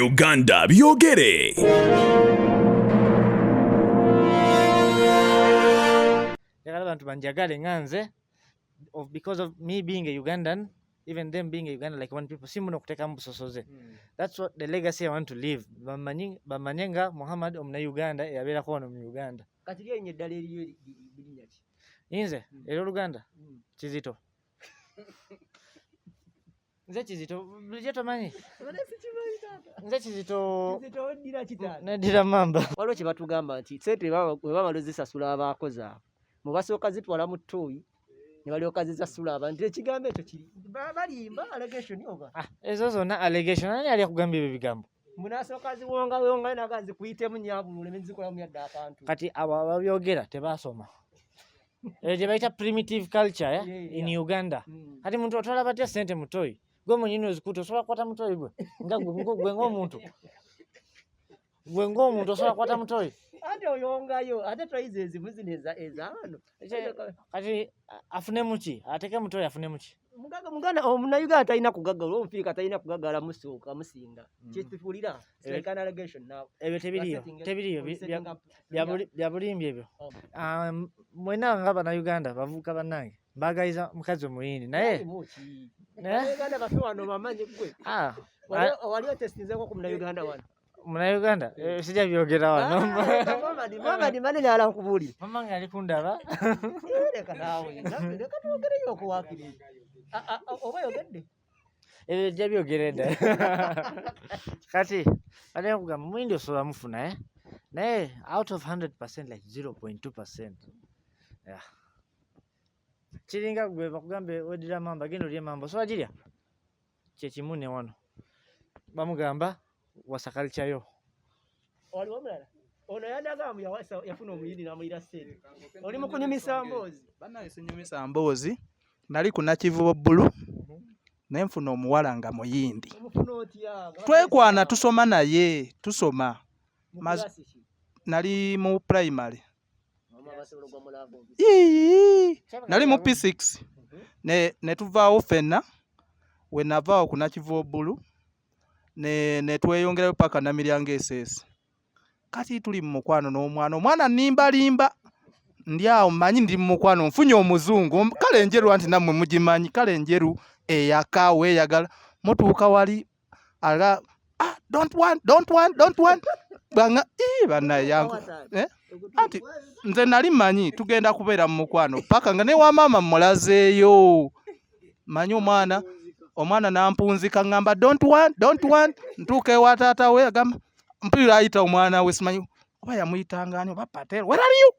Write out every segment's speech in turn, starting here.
Uganda byogere. Njagala abantu banjagale nga nze of because of me being a Ugandan even them being a Ugandan like one people si muno kutekamu busosoze mm. that's what the legacy I want to leave bamanye bamanye nga Muhammad omuna Uganda eyabeerako wano mu Uganda kati lyenye eddala eriyo linya ki inze mm. era oluganda mm. kizito Nze kizito bulijjo tomanyi nze kizito nedira mamba waliwo kye batugamba nti sente we baba luzisasula abaakozi abo mu basooka zitwala mu tooyi ne balyoka zisasula abantu ekigambo ekyo kiri balimba allegation oba ah, ezo zonna allegation ani ali akugamba ebyo bigambo munasooka ziwongawonga naga zikuyitemu nyabulule nezikolamu yadde akantu kati abo ababyogera tebasoma eyo gye bayita primitive culture ya in uganda mm. kati muntu otwala batya sente mutoyi gwe mwenyini ozikuuta osobola kukwata mutoyi gwe nga gwe ngaomuntu gwe ngaomuntu osobola kukwata mutoyi ate oyongayo ate toyi zezimu zino ezawano kati afunemuki ateke mutoyi afunemuki mugaga muganda omuna oh, uganda talina kugagala oba omufirika talina kugagala musooka musinga mm. kyetufulira eh, ebyo tebiriyo tebiriyo byabulimbi ebyo oh. ah, mwena nga bana uganda bavubuka banange mbagaliza mukazi omuyindi naye eh? ah, ah. wali otesinzeko ku muna uganda wano muna Uganda eh, sija byogera wano ah, mama di mama di manene ala nkubuli mama ngali kundaba leka nawe nawe leka twogere yoko wakiri ah, ah, oba yogedde ebyo jja byogere dda kati ate nkugamba muyindi osobola mufuna eh naye out of 100 percent like 0.2 percent yeah. kiringa gwe bakugambe wedira mamba genda olye mamba osobola girya kyekimu ne wano bamugamba wasa culture yo waliwo mulala ono yadaga mbu yawasa yafuna omuyini namuyira sente oli mukunyumisa mboozi banaye sinyumisa mboozi nali kunakivubo bbulu mhm. naye nfuna omuwala nga muyindi twekwana tusoma naye tusoma nali mu primary nali mu p6 mhm. ne tuvaawo fenna we navaawo ku nakiva obulu ne tweyongerayo paka namiryango eseesi kati tuli mu mukwano n'omwana omwana nimbalimba ndi awo manyi ndi mu mukwano nfunye omuzungu kale enjeru anti nammwe mugimanyi kale enjeru eyaka weyagala mutuuka wali aga ah, don't want don't want don't want banga ii banaye yangu eh? anti nze nali manyi tugenda kubeera mu mukwano paka nga ne wa maama mulazeeyo manyi omwana omwana nampunzika ngamba don't want don't want ntuuka ewa taata we agamba mpulira ayita omwana we simanyi oba yamuyitangani oba patel where are you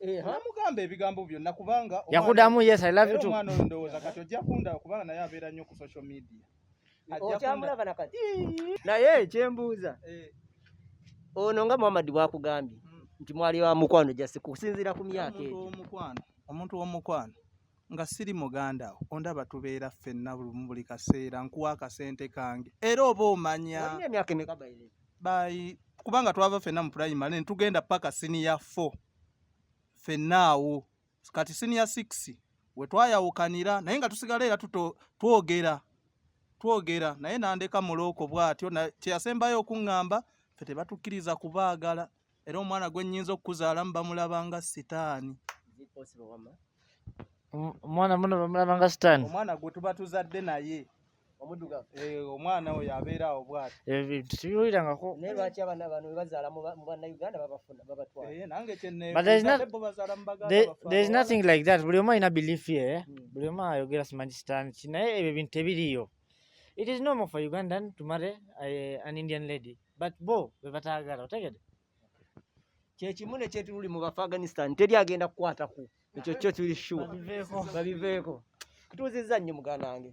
namugamba ebigambo byonna kubanga yakudamu yes i love you too mwana ndowooza kati ojja kundaba kubanga naye abeera nnyo ku social media okyamulaba na kati naye kyembuuza eh. ono nga muhammad bwakugambye hmm. nti mwali wa mukwano jasi kusinziira ku myaka eyo omuntu w'omukwano nga siri muganda wo ondaba tubeera ffenna bulumu buli kaseera nkuwa akasente kange era oba omanya kubanga twava ffenna mu primary netugenda paka siniya fo ffenna awo kati siniya six wetwayawukanira naye nga tusigala era twogera twogera naye nandeka mulooko bwatyo kyeyasembayo okuŋŋamba fe tebatukkiriza kubaagala era omwana gwe nnyinza okukuzaalamu bamulaba nga sitaani omwana muno bamulaba nga sitaani omwana gwe tuba tuzadde naye eh, omwana oyo abeera awo bwati tebyoyirangako naye lwaki abaana bano webazaala mu bannayuganda babafuna babatwala eh, nange kyenebo bazaala mu there's nothing like that buli omu alina belief ye eh? hmm. buli omu ayogera simanyi sitaani ki naye ebyo bintu tebiriyo it is normal for ugandan to marry an indian lady but bo bebatagala otegede kyekimu nekyetululi mu bafaghanistan teri agenda kukwata ku ekyo kyo tuli sure babiveeko kutuuzizza nnyo muganda wange